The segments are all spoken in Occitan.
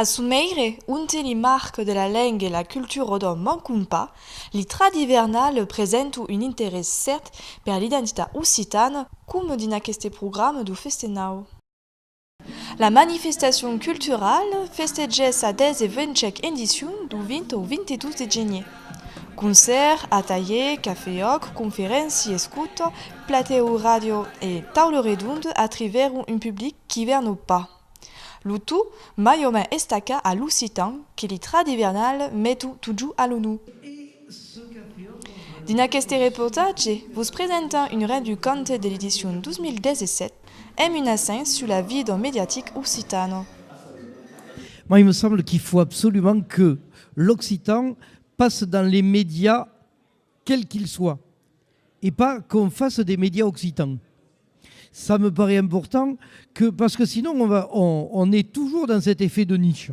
A son meire, onte li marc de la lenga e la cultura rodon mancon pas, l'itrat ivernal presento un interès cèrt per l'identitat occitana, coma dins aqueste programa dau Festenau. La manifestacion culturala festegèss sa 15 endicion du 20 au 22 de genier. Concèrt, atalhier, cafè-òc, conferéncia escuta, platèu ràdio e taula redonda atrivèron un public qu'ivèrn o pas. Lo tot mai o mai estaca a l'occitan que li trat ivernal met un totjor a l'onu. Dins aqueste reportatge, vos presentam un ret du cante de l'edicion 2017, hèm un assaint sus la vie d'un mediatic occitano. Moi, il me semble qu'il faut absolument que l'occitan passe dans les médias quels qu'ils soient et pas qu'on fasse des médias occitans. Ça me paraît important que, parce que sinon on va, on, on est toujours dans cet effet de niche.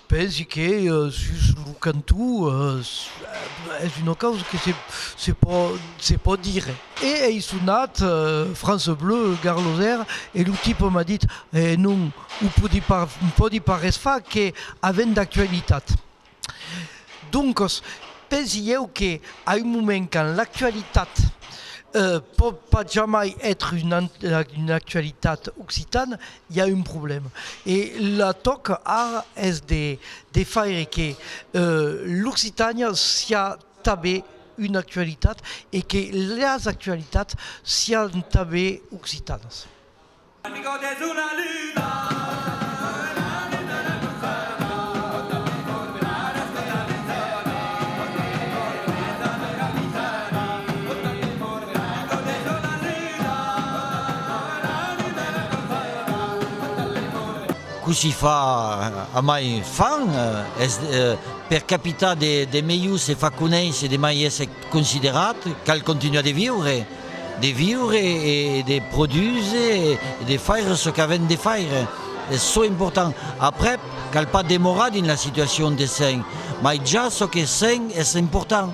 Pensi que sus lo cantó es una causa que se pò dire. E ei sonat France Bleu gar los èr e lo tipe m'a dit, E non, o pòdi pas res far que avent d'actualitat. Doncas, pensi ieu que a un moment quand l'actualitat pòt pas jamai ètre una actualitat occitana, i a un problèma e la tòca ara es de de faire que l'occitània siá tanben una actualitat e que las actualitats sián tanben occitanas. Cossí fa a mai fan es per capitar de melhor se fa conéisser de mai èsser considerat, cal continuar de viure, de viure e de produser e de faire çò qu'avèm de faire, es çò important, aprèp cal pas demorar dins la situacion de sen, mai ja çò que sen es important.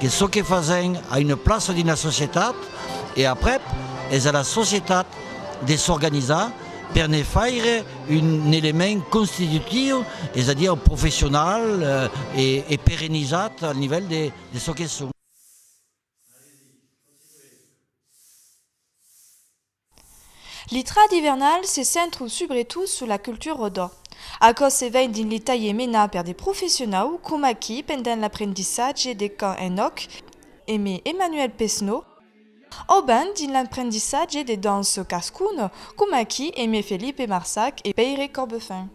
Que çò que fasèm a una plaça dins la societat e aprèp es a la societat de s'organizar per ne faire un element constitutiu, es a dire professional e perenizat al nivèl de çò que son. L'itrat ivernal se centru subretot sus la cultura rodò. Aquò se vein dins li talhiers menats per de professionau, coma aquí pendent l'aprendissatge de cant en òc eme Emmanuel Pesno, ò ben dins l'aprendissatge de dança cascuna, coma aquí eme Felipe Marsac e Pèire Corbefin.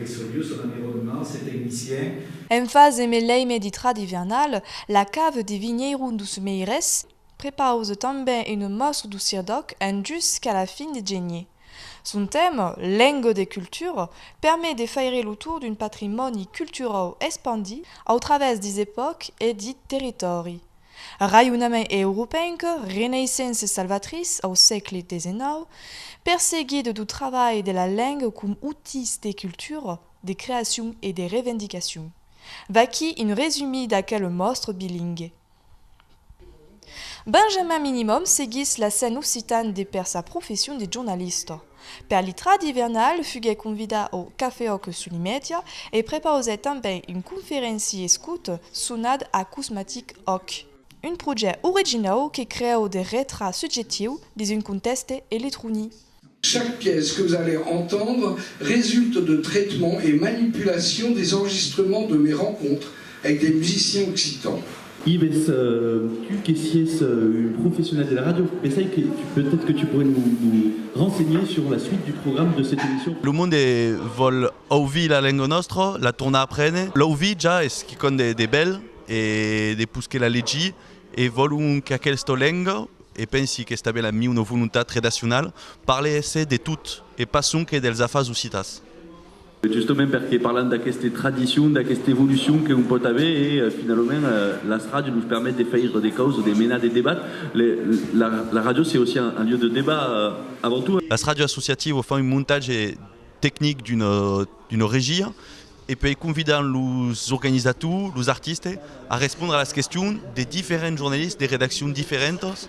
Resoliu son environnement, se tecnicien. En fas de mes leime de trad ivernal, la cave de vinheiro dos Meires prepause tanben une mostre do Sirdòc en jus qu'a la fin de genier. Son tèma, Lengo de cultura, permet de faire lo tour d'un patrimòni culturau espandit au travèrs des epòques e dit territòri. Raionament europenc, Renaissance salvatrice au sègle desenau, perseguit du trabalh de la lenga com utís de cultura, de creacion e de revendicacion. Vaquí un resumí d'aquel mòstre bilingue. Benjamin Minimum seguís l'accent occitan de per sa profession de jornalista. Per l'itra d'ivernal fuguèt convidat au Cafeòc Sulimètia e prepausèt tanben un conferenci escut sonat Acousmatic Òc, un projèct originau que creu de retrat subjectiu dins un contèxte electronic. Chaque pièce que vous allez entendre résulte de traitement et manipulation des enregistrements de mes rencontres avec des musiciens occitans. Ives, tu que sies un professionnel de la radio, pensai que peut-être que tu pourrais nous renseigner sur la suite du programme de cette émission. Lo monde vòl auvir la lenga nòstra, la tornar aprene. L'auvir ja es quicòm de bèl e de pus que la legir e vòlon qu'aquelsta lenga, e pensi qu'esta bèla miuna volontat redacionala, parle esse de tot e pas sonque dels afars occitans. Justement perque parlam d'aqueste tradicion, d'aqueste evolucion que hom pòt aver e finalament las ràdios nos permet de faire de causes, de menar de debats. La ràdio c'est aussi un lieu de débat avant tout. Las ràdios associatives fan un montatge tecnic d'una regia e puèi convidan los organizators, los artistes a respondre a las questions de diferents jornalistes de redaccions diferentas.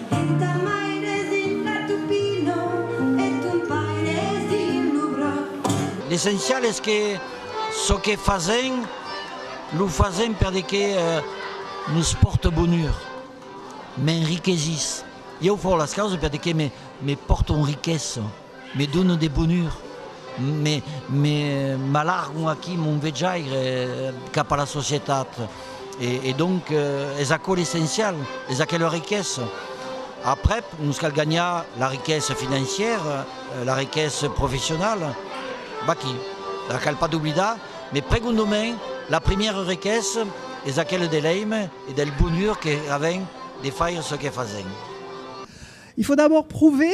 L'essencial es que çò que fasèm, lo fasèm per de que nos pòrte bonur, m'enriquesís. Ieu fau las causas per de que me pòrte un riquesa. Me dono de bonur, me m'alargon aquí mon vejaire cap a la societat, e donc es aquò l'essencial, es aquela riquesa. Aprèp, nos cal ganhar la riquesa financièra, la riquesa professionala, vaquí, la cal pas doblidar, me pregondonmen, la primièra riquesa es aquela de l'èime e del bonur que avèm de faire çò que fasèm. Il faut d'abord prouver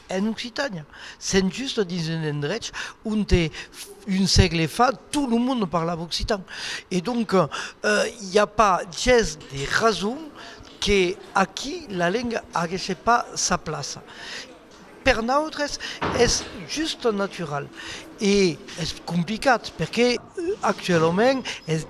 En Occitània, sent just dins un endrech onte un sègle fa tot lo monde parlava occitan. E donc, i a pas ges de rason que aquí la lenga aguèsse pas sa plaça. Per nautres es just natural e es complicat perque actualament es.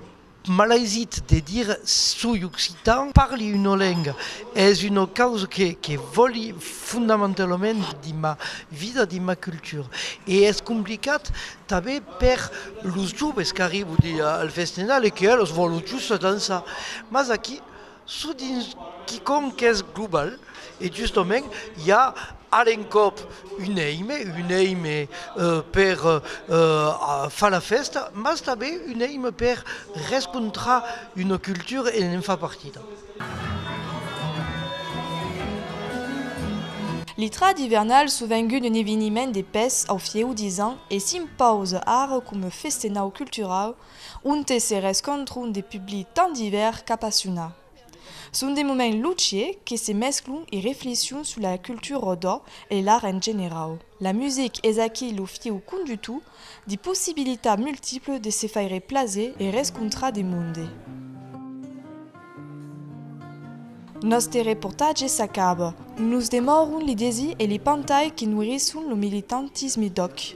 Malaisit de dire soi occitan. Parli una lenga es una causa que vòli fondamentalament dins ma vida, dins ma cultura. E es complicat tanben per los joves qu'arriban al Festival e que eles vòlon just dançar. Mas aquí çò dins quicòm qu'es global e justament i a a l'encòp un èime, un èime per far la fèsta, mas tanben un èime per rescontrar una cultura e ne'n far partida. L'Itrad ivernal sovengut un eveniment de pes au fieu disent e s'impausa ara coma festenau culturau onte se rescontron de publics tant divèrs qu'apassionats. Son de moments luciers que se mesclon e reflexion sus la cultura rodò e l'art en generau. La music es aquí lo fiu conductor de possibilitats multiples de se faire plaser e rescontrar de monde. Nòste reportatge s'acaba. Nos demòron li desir e li pantai que noirisson lo militantisme d'òc.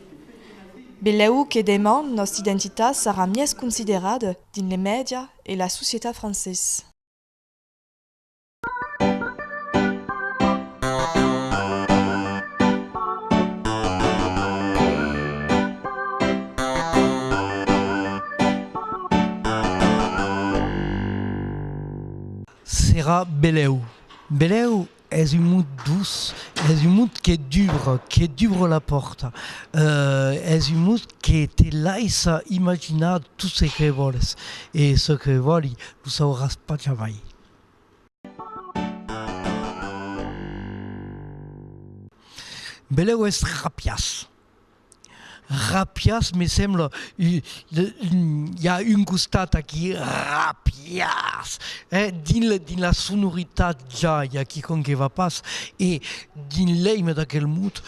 Belèu que deman nòsta identitat sarà mies considerada dins les mèdia e la societat francés. Serà belèu. Belèu Es un mot doç, es un mot que dubra, que dubra la pòrta, es un mot que te laissa imaginar tot çò que vòles e çò que vòli lo sauràs pas jamai. Belèu es rapiás, Rapias me sembla i a un costat aquí rapias eh dins la dins la sonoritat ja i a quicòm que va pas e dins l'èime d'aquel mot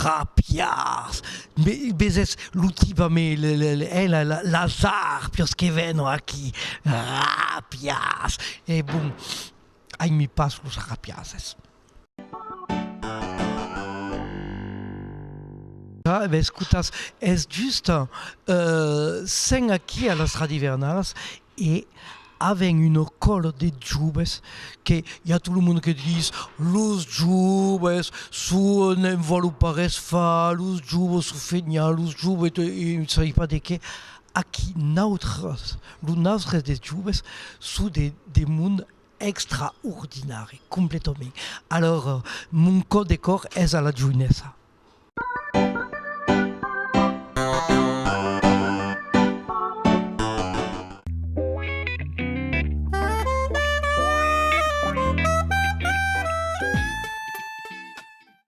rapias me vesètz lo tiba me le le le eh la la las arpias que venon aquí rapias e bon ai mi pas los rapiases. Escotas, es just, sen aquí a las radivernalas e avèn una còla de joves que i a tot lo monde que dis los joves son n'en vòlon pas res far, los joves son feniants, los joves te ne sai pas de qué, aquí nautras, los naustres de joves son de monde Extraordinari, completament. Alors, mon cò de còr es a la joinessa.